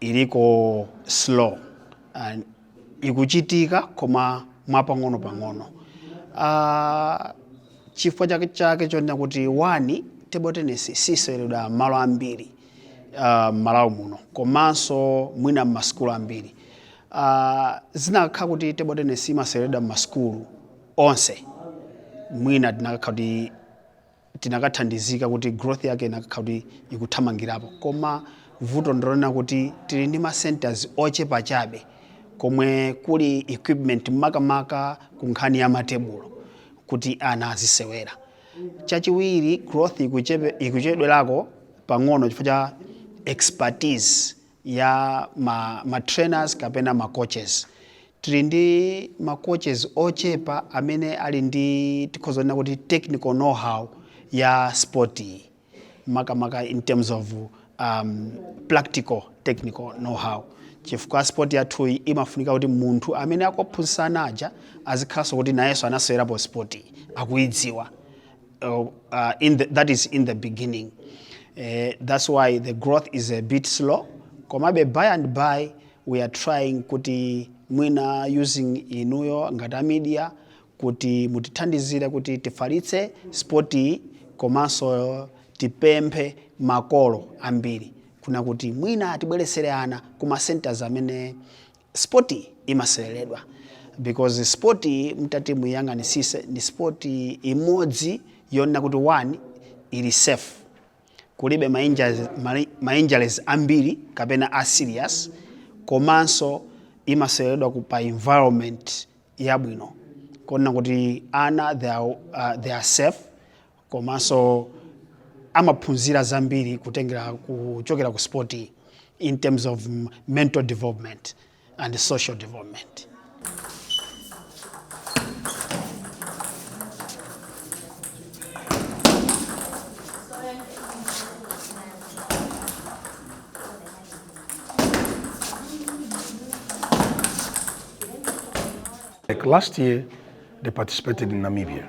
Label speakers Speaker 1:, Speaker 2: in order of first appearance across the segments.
Speaker 1: iliko slow and ikuchitika koma mwapang'onopang'ono uh, chifukwa chake chake chonena kuti one table tennis siseweredwa mmalo ambiri uh, mmalawi muno komanso mwina mmasukulu ambiri uh, zinakakhala kuti table tennis imaseweredwa mmasukulu onse mwina tinakakhala kuti tinakathandizika kuti growth yake inakakhala kuti ikuthamangirapo koma vuto ndilonena kuti tili ndi ma centers ochepa chabe komwe kuli equipment makamaka ku nkhani ya matebulo kuti ana azisewera chachiwiri growth ikuchepe- ikuchedwerako pang'ono chifukwa cha expertise ya ma, ma trainers kapena ma coaches tili ndi ma coaches ochepa amene ali ndi tikhoza kunena kuti technical know how ya sport iyi makamaka in terms of um, practical technical know how chifukwa sport yathu iyi imafunika kuti munthu amene akuphunzitsa ana aja azikhalanso kuti nayenso anasewerapo sport iyi akuidziwa uh, uh, in the, that is in the beginning uh, that's why the growth is a bit slow komabe by and by we are trying kuti mwina using inuyo ngati a media kuti mutithandizire kuti tifalitse sport iyi komanso tipemphe makolo ambiri kunena kuti mwina atibweresere ana kuma centers amene sport imaseweredwa because sport mtati muyang'anisise ndi sport imodzi yonena kuti one ili safe kulibe ma injuries, mali- ma injuries ambiri kapena a serious komanso imaseweredwa ku pa environment yabwino konena kuti ana they are, uh, they are safe komanso amaphunzira zambiri kutengera kuchokera ku sport iyi in terms of mm, mental development and social development
Speaker 2: Like last year, they participated in Namibia.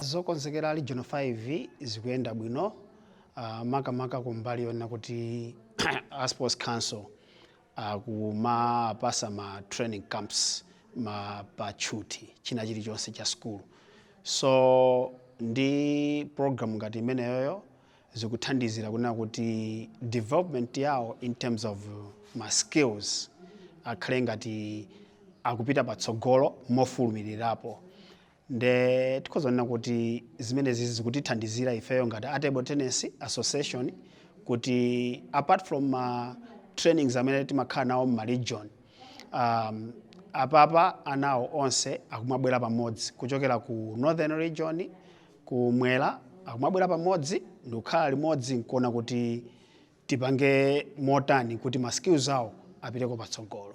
Speaker 1: zokonzekera region 5 zikuyenda bwino uh, makamaka kumbali yonena kuti a sports council akumapasa ma training camps pa tchuthi china chilichonse cha sukulu so ndi program ngati imeneyoyo zikuthandizira kunena kuti development yawo in terms of ma skills akhale ngati akupita patsogolo mofulumirirapo Nde tikhoza kunena kuti zimenezi zikutithandizira ifeyo ngati a table tennis association kuti apart from ma trainings amene timakhala nawo mma region um, apapa anawo onse akumabwera pamodzi kuchokera ku northern region kumwera akumabwera pamodzi ndikukhala limodzi nkuona kuti tipange motani kuti ma skills awo apiteko patsogolo.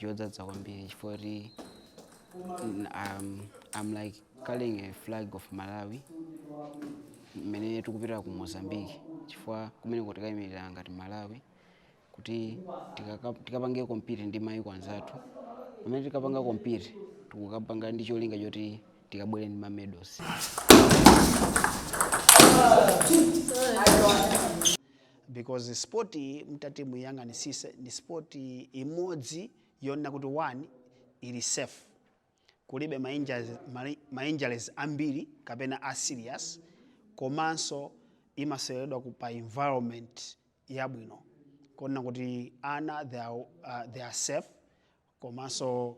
Speaker 3: chodzadza kwambiri chifukwa kuti mm, um, I'm like carrying a flag of Malawi mmene tikupita ku Mozambique chifukwa kumeneko tikayimirira ngati Malawi kuti tikaka- tikapange compete ndi mayiko anzathu pamene tikapanga compete tikukapanga ndi cholinga choti tikabwere ndi ma medals
Speaker 1: because sport iyi mtati muyiyang'anisise ni sport imodzi yonena kuti one ili safe kulibe ma injuries, ma- ma injuries ambiri kapena a serious komanso imaseweredwa pa environment yabwino konena kuti ana they are, uh, they are safe komanso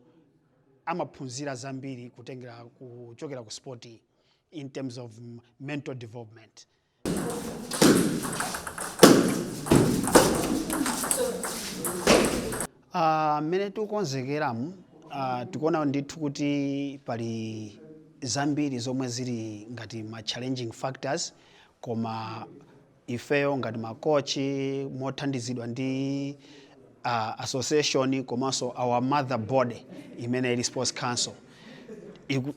Speaker 1: amaphunzira zambiri kutengera kuchokera ku sport iyi in terms of mm, mental development Ah, mmene tikukonzekeramu ah, tikuona ndithu kuti pali zambiri zomwe zili ngati ma challenging factors koma ifeyo ngati makochi mothandizidwa ndi ah, association komanso our mother body imene ili sports council iku,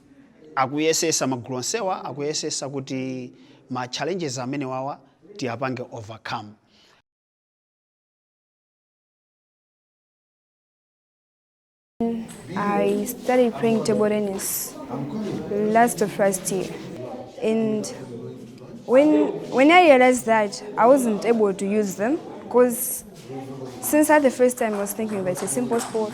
Speaker 1: akuyesesa magulu onsewa akuyesesa kuti ma challenges amene wawa tiyapange overcome
Speaker 4: I started playing table tennis last of last year, and when when I realized that I wasn't able to use them, because since that the first time I was thinking that it's a simple sport,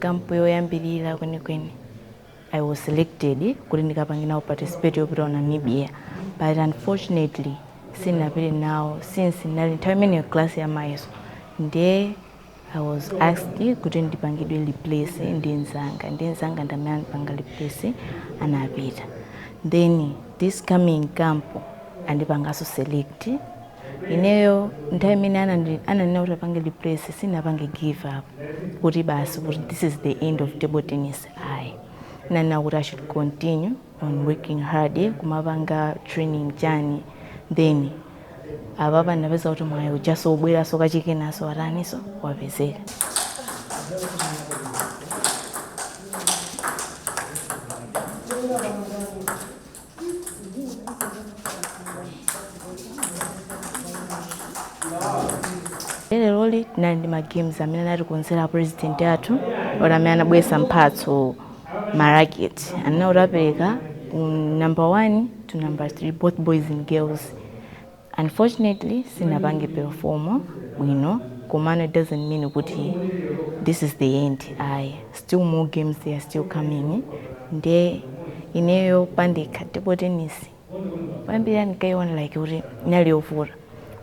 Speaker 5: camp yoyambilira kwenikweni i was selected kuti ndikapange nawo participate yopita ku namibia but unfortunately sindinapite nawo since ndinali nthawi imeneyo class ya mayeso ndiye i was asked kuti ndipangidwe replace ndi mzanga ndi mzanga ndamene andipanga replace anapita then this coming camp andipanganso select ineyo nthawi imene ananena kuti apange replace sinapange give up kuti basi kuti this is the end of table tennis ayi nanena kuti i should continue on working hard kumapanga training chani then apapa ndapeza kuti mwayi ujaso ubweraso kachikenaso wataniso wapezeka leroli tinali ndi magames amene anatikonzera president athu oti amene anabweretsa mphatso maraketi anena kuti apereka ku number one to number three both boys and girls Unfortunately sinapange perform bwino komano it doesn't mean kuti this is the end ayi still more games they are still coming nde ineyo pandekha table tennis poyambira ndikaiona like kuti inali yovuta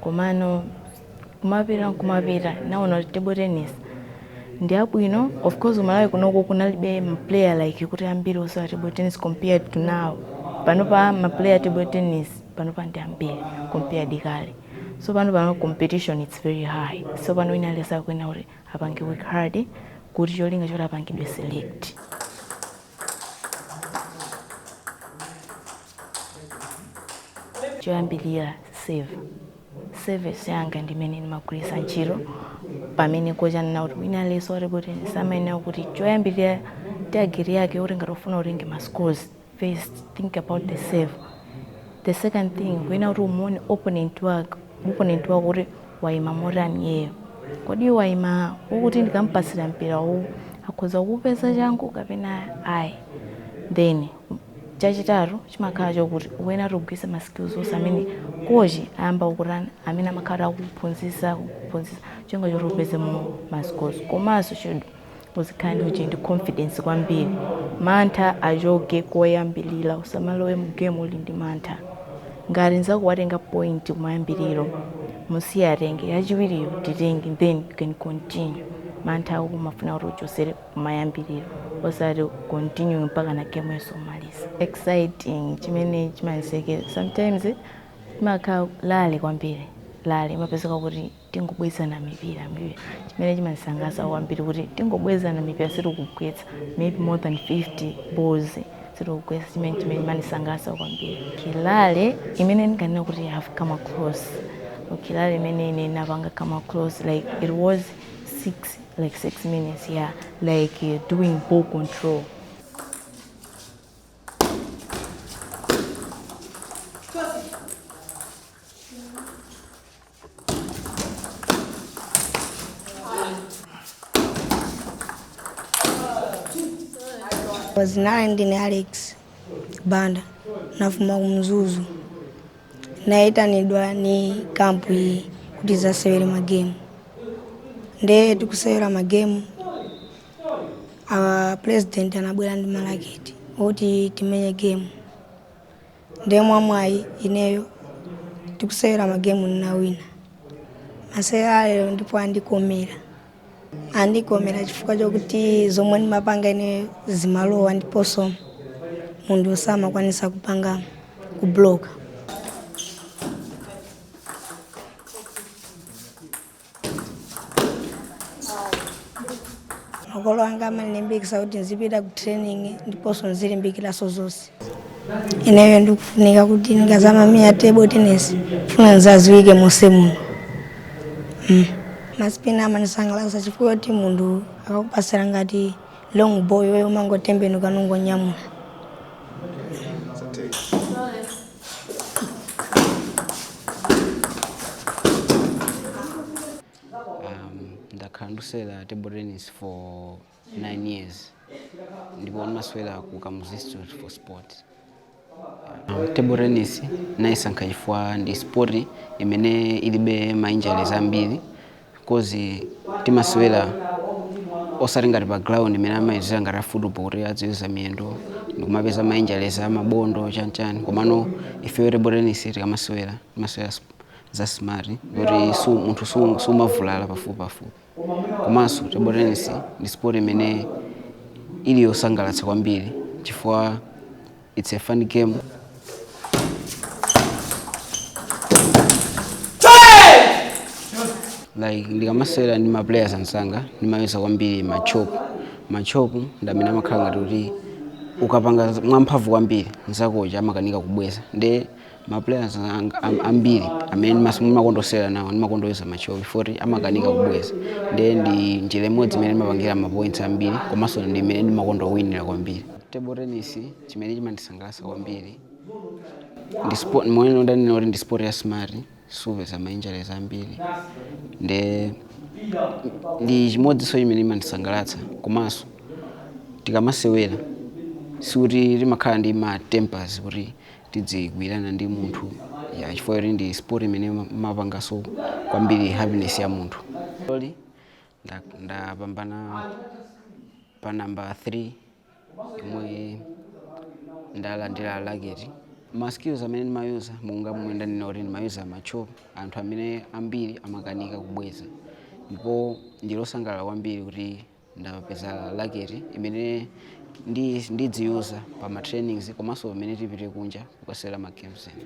Speaker 5: komano kumapita nkumapita naona kuti table tennis ndi yabwino of course ku malawi kunoko kunalibe maplayer like kuti ambiri osewera table tennis compared to now panopa maplayer table tennis panopa ndi ambiri compared ndi kale so pano pano competition it's very high so pano wina aliyense akuyenera kuti apange work hard kuti cholinga choti apangidwe select choyambirira serve service yanga ndimene ndimagwiritsa ntchito pamene kochi anena kuti wina aliyense wa table tennis amayenera kuti choyambirira tageti yake kuti ngati ufuna utenge ma scores first think about the serve the second thing ukuyenera kuti umuone opponent wako kuti waima motani iyeyo kodi waima mokuti ndikampasira mpira uwu akhoza kuupeza changu kapena ayi then chachitatu chimakhala chokuti ukuyenera kuti ugwiritse ma skills onse amene kochi ayamba kukutani amene amakhala akuphunzisa kuphunzisa cholinga choti upezemo ma scores komanso should Uzikhala ndi uje ndi confidence kwambiri. Mantha achoke koyambilira usamalowe mu game uli ndi mantha. Ngati nzako watenga point kumayambiliro musiye atenge yachiwiriyo titenge then you can continue. Mantha ako kumafuna kuti uchosere kumayambiliro osati continue mpaka na game yonse umalize. Exciting chimene chimandisekera sometimes imakhala rally kwambiri rally imapezeka kuti tingobwezana mipira mipira chimene chimandisangalatsa kwambiri kuti tingobwezana mipira sitikugwetsa maybe more than 50 balls sitikugwetsa chimene chimene chimandisangalatsa kwambiri kilale imene ndikanena kuti I have come across kilale imene ine napanga come across like it was six like six minutes yeah like uh, doing ball control
Speaker 6: Zina langa ndine Alex Banda nafuma kumzuzu nayitanidwa ni kampu iyi kuti zasewere magemu nde tikusewera magemu a president anabwera ndi malaketi oti timenye gemu Nde mwamwayi ineyo tikusewera magemu ninawina. Masewera a lero ndipo andikomera. Andikomera chifukwa chokuti zomwe ndimapanga ineyo zimalowa ndiponso munthu osamakwanisa kupanga kubloka. makolo anga amanilimbikisa kuti nzipita ku training ndiponso nzilimbikilaso zonse ineyo ndikufunika kuti ndikazamamia table tennis funa nzaziwike monse muno mm. masipini amanisangalasa chifukwa choti munthu akakupasira ngati long ball iwe umangotembenuka nungonyamula
Speaker 3: Um, ndakhala ndusewera table tennis for 9 years ndipo ndimasewera ku kamuzu institute for sport um, table tennis nayisankha chifukwa ndi sport imene ilibe ma injuries ambiri coz timasewera osati ngati pa ground mene amayezera ngati a football kuti adziweza miyendo ndikumapeza ma injuries amabondo chanichani komano ifeyo table tennis tikamasewera timasewera s- za smart kuti su, munthu su- sumavulala pafupi pafupi komanso table tennis ndi sport imene ili yosangalatsa kwambiri chifukwa It's a fun game. like ndikamasewera ndi ma players anzanga ndimayesa kwambiri machopu machopu ndamene amakhala ngati kuti ukapanga mwamphamvu kwambiri nzakocha amakanika kubweza nde ma players anga am- ambiri amene ndimas- ndimakondosewera nawo ndimakondoyuza machop oti amakanika kubweza ndiye ndi njira imodzi imene ndimapangira mapoints ambiri komanso ndi imene ndimakondowinira kwambiri table tennis chimene chimandisangalatsa kwambiri ndi sport momwe ndanena kuti ndi sport ya smart supeza ma injuries ambiri nde ndi chimodzinso chimene chimandisangalatsa komanso tikamasewera sikuti timakhala ndi ma tempers kuti tidzigwirana ndi munthu ya chifukwa choti ndi sport imene ima- imapanganso kwambiri happiness ya munthu Loli, nda- ndapambana pa namba 3 yomwe ndalandira laketi ma skills amene ndimayuza monga momwe ndanena kuti ndimayuza matchop amene anthu ambiri amakanika kubweza ndipo ndili osangalala kwambiri kuti ndapeza laketi imene ndi ndidziyuza pa ma trainings komanso pamene tipite kunja kukasewera ma games ena.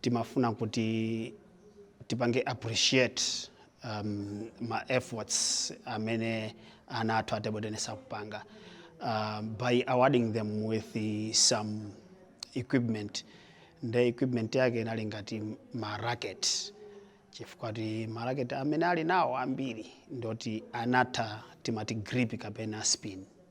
Speaker 1: timafuna kuti tipange appreciate um, ma efforts amene ana athu a table tennis akupanga uh, by awarding them with the, some equipment nde equipment yake inali ngati ma racket chifukwa choti ma racket amene ali nawo ambiri ndoti anatha timati grip kapena spin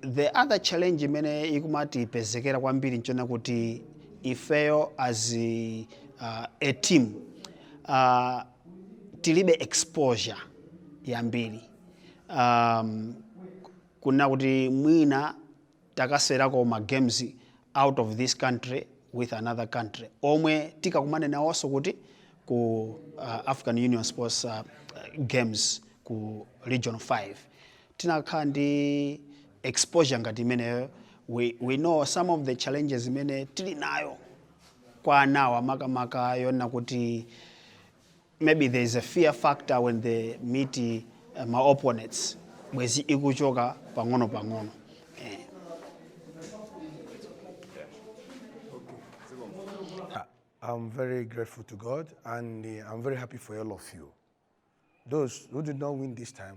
Speaker 1: The other challenge imene ikumatipezekera kwambiri nchonena kuti ifeyo as uh, a team uh, tilibe exposure yambiri um, kunena kuti mwina takasewerako ma games out of this country with another country omwe tikakumane nawonso kuti ku uh, african union sports uh, games ku region 5 tikanakhala ndi exposure ngati imeneyo we, we know some of the challenges imene tili nayo kwa anawa makamaka yonena kuti maybe there is a fear factor when they meet uh, ma opponents bwezi ikuchoka pang'ono pang'ono eh. I'm
Speaker 2: very grateful to God and uh, I'm very happy for all of you. Those who did not win this time,